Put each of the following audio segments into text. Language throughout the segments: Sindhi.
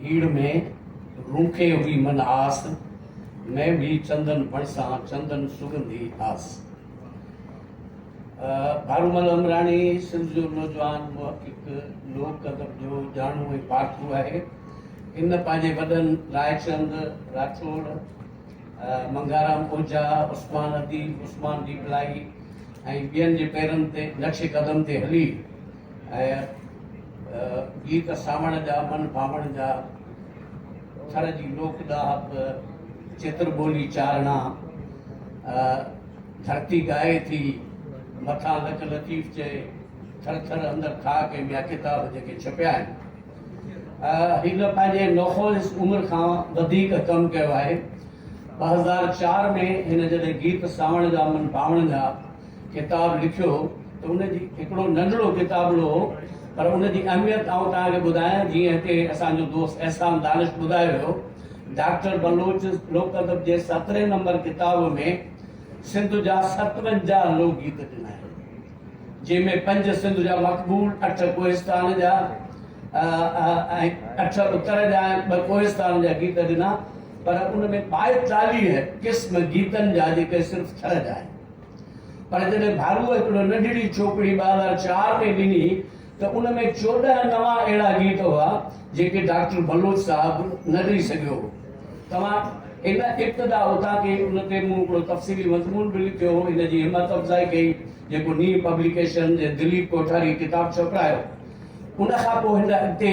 هيڙ ۾ روکي هئي من آس، مين ڀي چندن بڻ سان چندن سڳنڌي آس. ڀارومل عمراڻي سنڌ جو نوجوان محقق، لوڪ ادب جو ڄاڻو ۽ پارکو آهي. هن پنهنجي وڏن رائچند راٺوڙ، منگهارام اوجها، عثمان اديب، عثمان ڏيپلائي ۽ ٻين جي پيرن تي نقش قدم تي هلي، ۽ گيت ساوڻ جا من ڀاوڻ جا ٿر جي لوڪ ڏاهپ چتر ٻولي چارڻا ڌرتي ڳائي ٿي مٿان لک لطيف چئي ٿر ٿر اندر ٿا ڪي ٻيا ڪتاب جيڪي ڇپيا آهن هن پنهنجي نوخوز عمر کان وڌيڪ ڪم ڪيو آهي ٻه هزار چار ۾ هن جڏهن گيت ساوڻ جا من باوڻ جا ڪتاب لکيو هو ته ان جي هڪڙو ننڍڙو ڪتابڙو هو پر ان جي اهميت آئون توهان کي ٻڌايان جيئن هتي اسان جو دوست احسان دانش ٻڌايو هيو ڊاڪٽر بلوچ لوڪ ادب جي سترهين نمبر ڪتاب ۾ سنڌ جا ستونجاهه لوڪ گيت ڏنا آهن جنهن ۾ پنج سنڌ جا مقبول اٺ ڪوهستان جا اٺ اتر جا ٻه ڪوهستان جا گيت ڏنا پر ان ۾ ٻائيتاليهه قسم گيتن جا جيڪي صرف ٿر جا آهن پر جڏهن ڀارو هڪڙو ننڍڙي چوپڙي ٻه هزار چار ۾ ڏني ته ان ۾ چوڏهن نوان اهڙا گيت هئا جيڪي ڊاڪٽر بلوچ صاحب نه ڏئي سگهيو هو. توهان ان ابتدا اتان ڪئي ان تي مون هڪڙو تفصيلي مضمون به لکيو هو ان جي همت افزائي ڪئي جيڪو نينهن پبليڪيشن جي دليپ ڪوٺاري ڪتاب ڇپرايو ان کان پوء هن اڳتي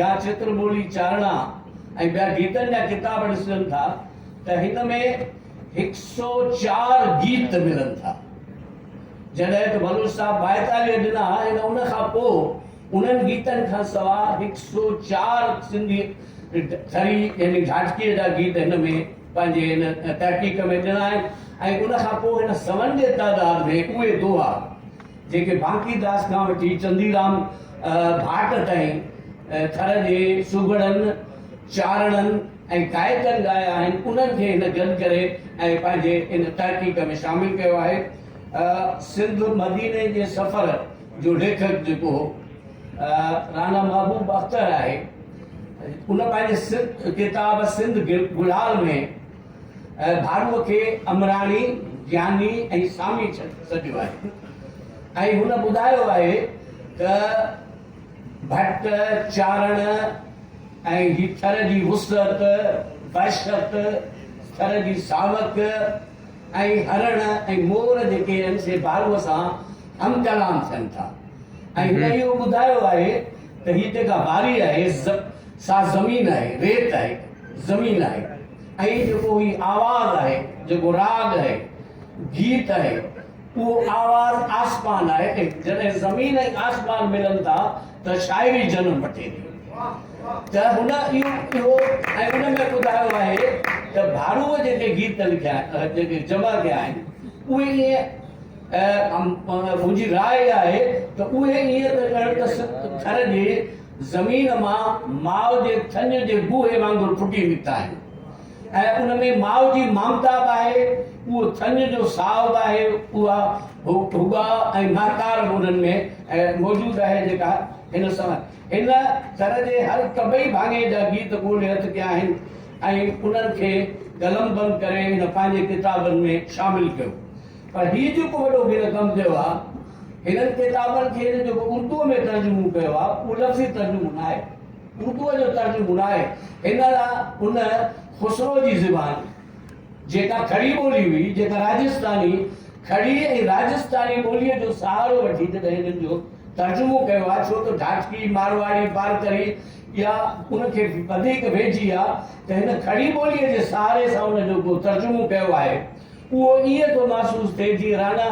يا چتر ٻولي چارڻا ۽ ٻيا گيتن جا ڪتاب ڏسجن ٿا ته هن ۾ هڪ سؤ چار گيت ملن ٿا. جڏهن ته بلوچ صاحب ٻائيتاليهه ڏنا ۽ ان کان پوء انهن گيتن کان سوا هڪ سؤ چار سنڌي ٿري يعني ڍاٽڪيء جا گيت هن ۾ پنهنجي هن تحقيق ۾ ڏنا آهن ۽ ان کان پوء هن سون جي تعداد ۾ اهي دوها جيڪي بانڪيداس کان وٺي چنديرام ڀاٽ تائين ٿر جي سگهڙن، چارڻن ۽ گائڪن ڳايا آهن، انهن کي هن گڏ ڪري ۽ پنهنجي ان تحقيق ۾ شامل ڪيو آهي. سنڌ مديني جي سفر جو ليکڪ جيڪو هو رانا محبوب اختر آهي، ان پنهنجي ڪتاب سنڌ گلال ۾ ڀاروء کي امراڻي، جياني ۽ سامي سڏيو آهي ۽ هن ٻڌايو آهي ته ڀٽ، چارڻ ۽ هي ٿر جي وسعت، وحشت، ٿر جي ساوڪ ۽ هرڻ ۽ مور جيڪي آهن سي ڀاروء سان هم ڪلام ٿين ٿا ۽ هن اهو ٻڌايو آهي ته هي جيڪا ڀاري آهي سا زمين آهي، ريت آهي، زمين آهي. ۽ جيڪو هي آواز آهي، جيڪو راڳ آهي، گيت آهي، اهو آواز آسمان آهي ۽ جڏهن زمين ۽ آسمان ملن ٿا ته شاعري جنم وٺي ٿي ته هن اهو ۽ ان ۾ ٻڌايو آهي ته ڀارو جيڪي گيت لکيا جيڪي جمع ڪيا آهن اهي ائين منهنجي راء اها آهي ته اهي ائين ته ڄڻ ته ٿر جي زمين مان ماء جي ٿڃ جي بوهي وانگر ڦٽي نڪتا آهن ۽ ان ۾ ماء جي مامتا به آهي، اهو ٿڃ جو ساهه به آهي، اها هٻاء ۽ مهڪار به انهن ۾ موجود آهي جيڪا هن سان هن ٿر جي هر طبعي ڀاڱي جا گيت ڳولي هٿ ڪيا آهن ۽ انهن کي قلمبند ڪري هن پنهنجي ڪتابن ۾ شامل ڪيو. پر هي جيڪو وڏو هن ڪم ڪيو آهي، هنن ڪتابن کي هن جيڪو اردوء ۾ ترجمو ڪيو آهي، اهو لفظي ترجمو ناهي، اردوء جو ترجمو ناهي، هن لاء ان خسرو جي زبان، جيڪا کڙي ٻولي هئي، جيڪا راجسٿاني کڙي ۽ راجسٿاني ٻوليء جو سهارو وٺي جڏهن هنن جو ترجمو ڪيو آهي، ڇو ته ڍاٽڪي، مارواڙي، بارڪري اها ان کي وڌيڪ ويجهي آهي، ته هن کڙي ٻوليء جي سهاري سان ان جو ڪو ترجمو ڪيو آهي. اهو ائين ٿو محسوس ٿئي جيئن رانا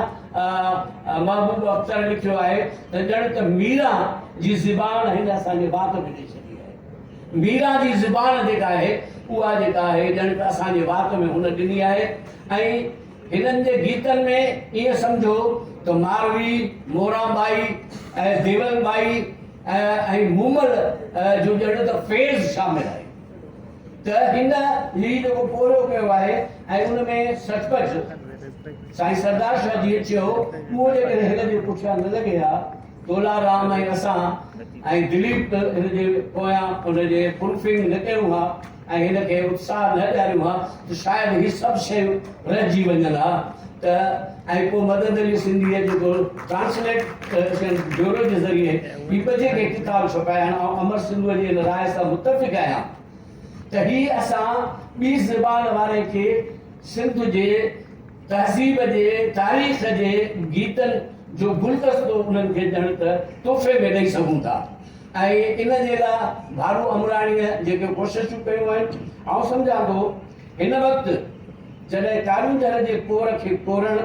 محبوب اختر لکيو آهي ته ڄڻ ته ميرا جي زبان هن اسان جي وات ۾ ڏئي ڇڏي آهي. ميرا جي زبان جيڪا آهي اها جيڪا آهي ڄڻ ته اسان جي وات ۾ هن ڏني آهي ۽ هنن جي گيتن ۾ ائين سمجهو ته ماروي، موران ٻائي ۽ ديول ٻائي ۽ مومل جو ڄڻ ته فيض شامل آهي. ته هن هي جيڪو پورهيو ڪيو آهي ۽ ان ۾ سچ پچ سائين سردار شاهه جيئن چيو اهو جيڪڏهن هن جي پٺيان نه لڳي ها تولا رام ۽ اسان ۽ دليپ هن جي پويان ان جي فلفنگ نه ڪيون ها ۽ هن کي اتساهه نه ڏياريون ها ته شايد هي سڀ شيون رهجي وڃن ها ته ۽ پوء مدد علي سنڌيء جي دور ٽرانسليٽريشن بيورو جي ذريعي هي ٻجهه کي ڪتاب ڇپايائين. آئون امر سنڌوء جي ان راء سان متفق آهيان ته هي اسان ٻي زبان واري کي سنڌ جي تهذيب جي تاريخ جي گيتن جو گلدستو انهن کي ڄڻ ته تحفي ۾ ڏئي سگهون ٿا ۽ ان جي لاء ڀارو امراڻيء جيڪي ڪوششون ڪيون آهن آئون سمجهان ٿو هن وقت جڏهن ڪارونجهر جي ڪور کي ڪورڻ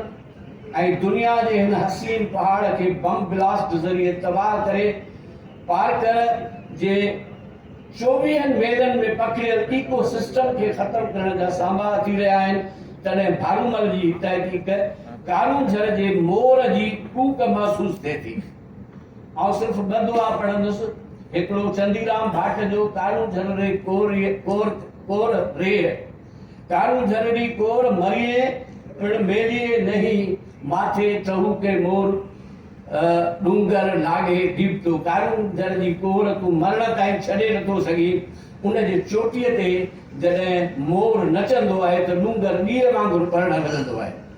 ۽ دنيا جي هن حسين پهاڙ کي بم بلاسٽ ذريعي تباهه ڪري پارڪ جي چوويهن ميلن ۾ پکڙيل ايڪو سسٽم کي ختم ڪرڻ جا سانباها ٿي رهيا آهن تڏهن ڀارومل جي هي تحقيق ڪارونجهر جي مور جي ڪوڪ محسوس ٿئي ٿي. آئون صرف ٻه دعا پڙهندس، هڪڙو چنديرام ڀاٽ جو ڪارون جهرڙي ڪور ريء، ڪور، ڪور ريء، ڪارون جهرڙي ڪور مريئي، پڻ ميليئي نهي، ماٿي ٽهوڪي مور، ڏونگر ناگهي ڊيبتو، ڪارون جهرڙي ڪور تون مرڻ تائين ڇڏي نٿو سگهين، ان جي چوٽيء تي جڏهن مور نچندو آهي ته ڏونگر ڏيئي وانگر ٻرڻ لڳندو آهي.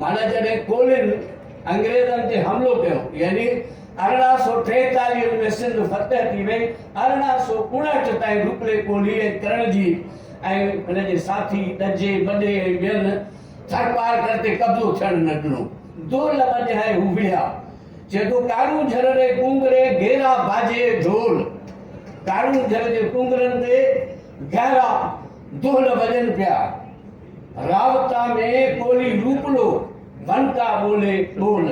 معنيٰ جڏهن ڪولين انگريزن تي حملو ڪيو يعني ارڙهن سؤ ٽيتاليهه ۾ سنڌ فتح ٿي وئي، ارڙهن سؤ اڻهٺ تائين روپلي ڪولهي ۽ ڪرڻجي ۽ هن جي ساٿي ڏجي، ٻڏي ۽ ٻين ٿرپارڪر تي قبضو ٿيڻ نه ڏنو. دولهه مڃائي هو وڙهيا. جيڪو ڪارون جھر ري ڪونگري گيرا باجي ڍول. ڪارون جھر جي ڪونگرن تي گهرا دولهه وڄن پيا. رابطا ۾ ٻولي روپلو ونڪا ٻولي ٻول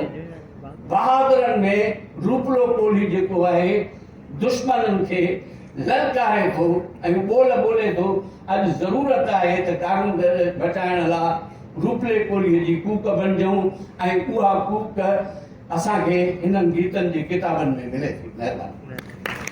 بهادرن ۾ روپلو ٻولي جيڪو آهي دشمنن کي للڪاري ٿو ۽ ٻول ٻولي ٿو اڄ ضرورت آهي ته ڪارونجهر بچائڻ لا روپلي ٻولي جي ڪوڪ بنجون ۽ اها ڪوڪ اسان کي هنن گيتن جي ڪتابن ۾ ملي ٿي مهرباني